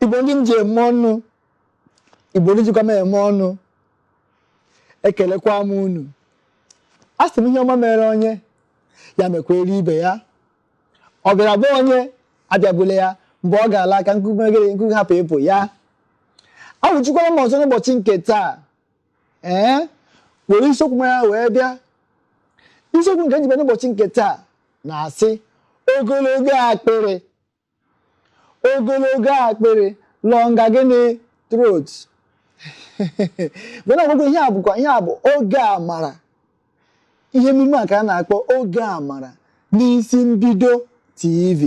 igbo ndị m ji eme ọnụ igbo ndị jikwa m eme ọnụ ekelekwa m unu a sị m ihe ọma mere onye ya mekwere ibe ya ọ bịara be onye abịagbule ya mgbe ọ ga-ala ka mkpumkpu hapụ ịpụ ya awụchikwara m ọzọ n'ụbọchị nke taa ee were isiokwu mara wee bịa isiokwu nke m ji bịa n'ụbọchị nke taa na-asị ogologo akpịrị ogologo akpịrị longer gịnị throat mana ọgwụgwụ ihe a bụkwa ihe a bụ oge amara ihe emume a ka a na-akpọ oge amara n'isi mbido tv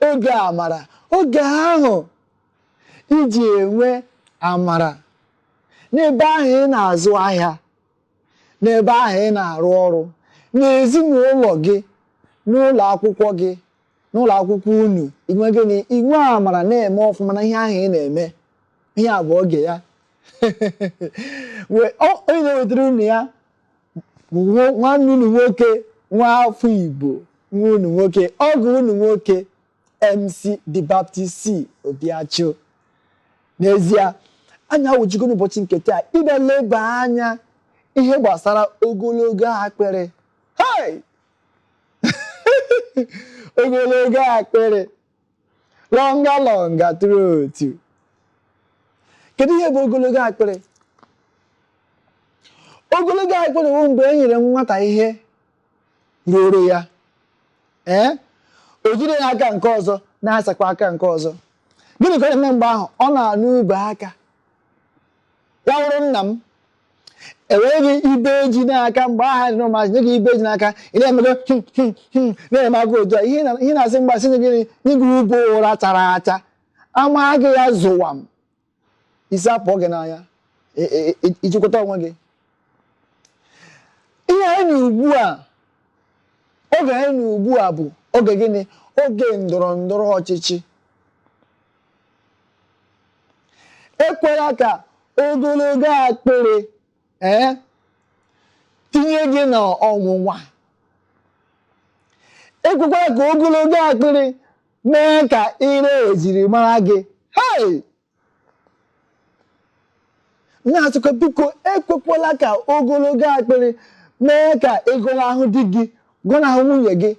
oge amara oge ahụ ị ji enwe amara n'ebe ahụ ị na-azụ ahịa n'ebe ahụ ị na-arụ ọrụ n'ezinụlọ gị n'ụlọ akwụkwọ gị n'ụlọ akwụkwọ unu inwe gịnị inwe amara na-eme ọfụma na ihe ahụ ị na-eme ihe a bụ oge ya onye na-ewetara unu ya nwanne unu nwoke nwa afọ Igbo nwa unu nwoke ọgọ unu nwoke MC The Baptist C Obiachụ n'ezie anyị awụchigo n'ụbọchị nke taa ịbịa leba anya ihe gbasara ogologo akpịrị Hey! ogologo akpịrị longer longer throat kedu ihe bụ ogologo akpịrị ogologo akpịrị bụ mgbe e nyere nwata ihe ruuru ya ee o jide n'aka nke ọzọ na-asakwa aka nke ọzọ gịnị ka ọ na-eme mgbe ahụ ọ na-anụ ube aka ya wụrụ nna m e nye gị ibe ji n'aka mgbe ahụ a dị n'ụmụazị nye gị ibe ji n'aka ị na-emego him him him na-eme aka otu a ihe na- ihe na-asị mgbasị nye gịnị nye gị ube ụra chara acha a maa gị ya zụwam isi apụọ gị n'anya i jikwata onwe gị ihe anyị nọ ugbu a oge anyị nọ ugbu a bụ oge gịnị oge ndọrọ ndọrọ ọchịchị ekwela ka ogologo akpịrị ee tinye gị n'ọnwụnwa ekwekwala ka ogologo akpịrị mee ka i ree ejiri mara gị hei na-asịkwa biko ekwekwala ka ogologo akpịrị mee ka ị gọnahụ di gị gọnahụ nwunye gị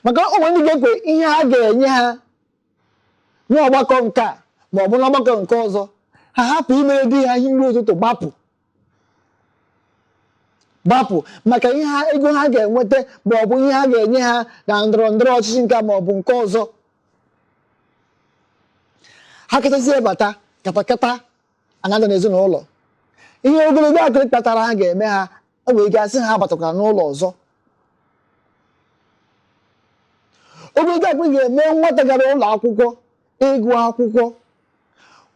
maka o nwere ndị ga-ekwe ihe a ga-enye ha n'ọgbakọ nke a ma ọ bụ n'ọgbakọ nke ọzọ ha hapụ imere di ha ihe nri ụtụtụ gbapụ gbapụ maka ihe ha ego ha ga-enweta ma ọ bụ ihe ha ga-enye ha na ndọrọ ndọrọ ọchịchị nke a ma ọ bụ nke ọzọ ha kachazie bata katakata ana-ada n'ezinụlọ ihe ogologo akpịrị kpatara ha ga-eme ha o nwere ike a sị ha abatakwara n'ụlọ ọzọ ogologo akpịrị ga-eme nwata gara ụlọ akwụkwọ ịgụ akwụkwọ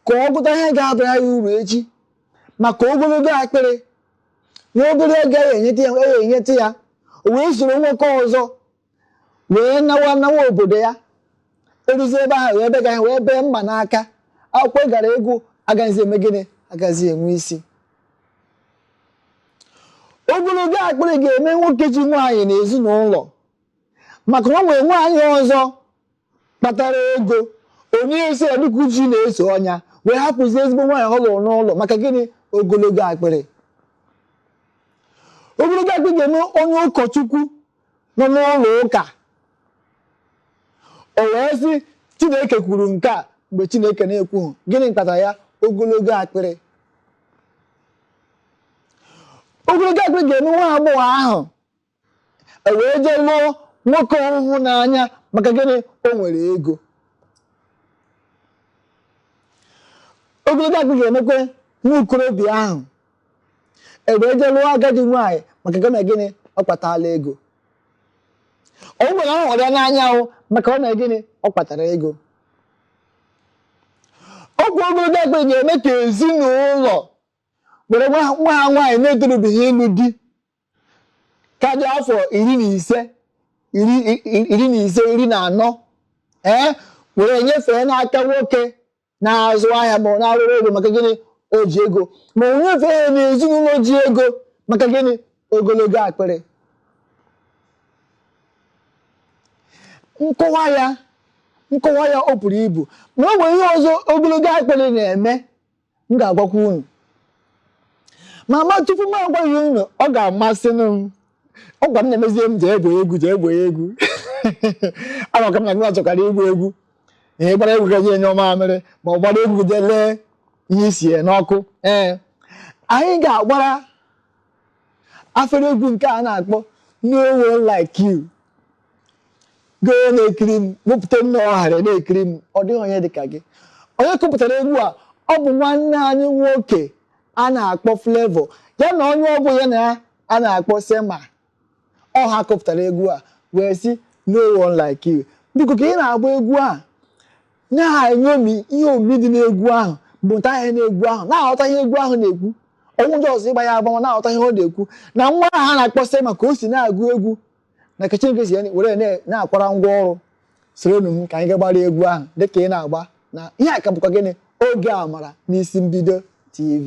ka ọ gụta ihe ga-abara ya uru echi maka ogologo akpịrị nwa obere ego ya enyeta ya ya enyeta ya o wee soro nwoke ọzọ wee nawa nawa obodo ya eruzi ebe ahụ wee bega ya wee bee mma n'aka akwụkwọ ọ gara ịgụ agaghịzi eme gịnị agaghịzi enwe isi ogologo akpịrị ga-eme nwoke ji nwaanyị n'ezinụlọ maka na o nwere nwaanyị ọzọ kpatara ego onye isi ya dịka uchi na-eso ọnya wee hapụzi ezigbo nwaanyị ọ lụrụ n'ụlọ maka gịnị ogologo akpịrị ogologo akpịrị ga-eme onye ụkọchukwu nọ n'ụlọ ụka o wee sị chineke kwuru nke a mgbe chineke na-ekwughị gịnị kpatara ya ogologo akpịrị ogologo akpịrị ga-eme nwa agbọghọ ahụ e wee jee lụọ nwoke ọ hụghị n'anya maka gịnị o nwere ego ogologo akpịrị ga-emekwa nwa okorobịa ahụ e wee jee lụọ agadi nwaanyị maka gịnị gịnị ọ kpatala ego o nwere ọ hụrụ ya n'anya ahụ maka ọ na gịnị ọ kpatara ego ọgwụ ogologo akpịrị ga-eme ka ezinụlọ were nwa ha nwaanyị na-etorubeghị ịlụ di ka dị afọ iri na ise iri na ise iri na anọ ee were nyefee n'aka nwoke na-azụ ahịa ma ọ na-arụ ọrụ ego maka gịnị o ji ego ma o nyefee ya n'ezinụlọ ji ego maka gịnị ogologo akpịrị nkọwa ya nkọwa ya o buru ibu ma o nwere ihe ọzọ ogologo akpịrị na-eme m ga-agwakwa unu ma ma tupu m agwaghị unu ọ ga-amasị m ọ gwa m na-emezie m jee egwu egwu jee egwu egwu ama ka m na gị chọkwara igwu egwu ihe gbara egwu gaji enye ọma amịrị ma ọ gbara egwu jee lee ihe e siri n'ọkụ ee anyị ga-agbara afere egwu nke a na-akpọ no one like you gị onye na-ekiri m wepụta m n'ọha ọra na-ekiri m ọ dịghị onye dị ka gị onye kụpụtara egwu a ọ bụ nwanne anyị nwoke a na-akpọ Flavour ya na onye ọ bụ ya na ya a na-akpọ Semah ọ ha kụpụtara egwu a wee sị no one like you biko ka ị na-agba egwu a na-enyomi ihe omimi dị n'egwu ahụ mụta ihe n'egwu ahụ na-aghọta ihe egwu ahụ na-ekwu ọ bụghị sọọsọ ịgba ya agba wee na-aghọta ihe ọ na-ekwu na nwa ahụ a na-akpọ Semah ka o si na-agụ egwu na ka Chineke si were na-akwara ngwa ọrụ soronụ m ka anyị gaa gbara egwu ahụ dịka ị na-agba na ihe a ka bụkwa gịnị Oge Amara n'Isi Mbido TV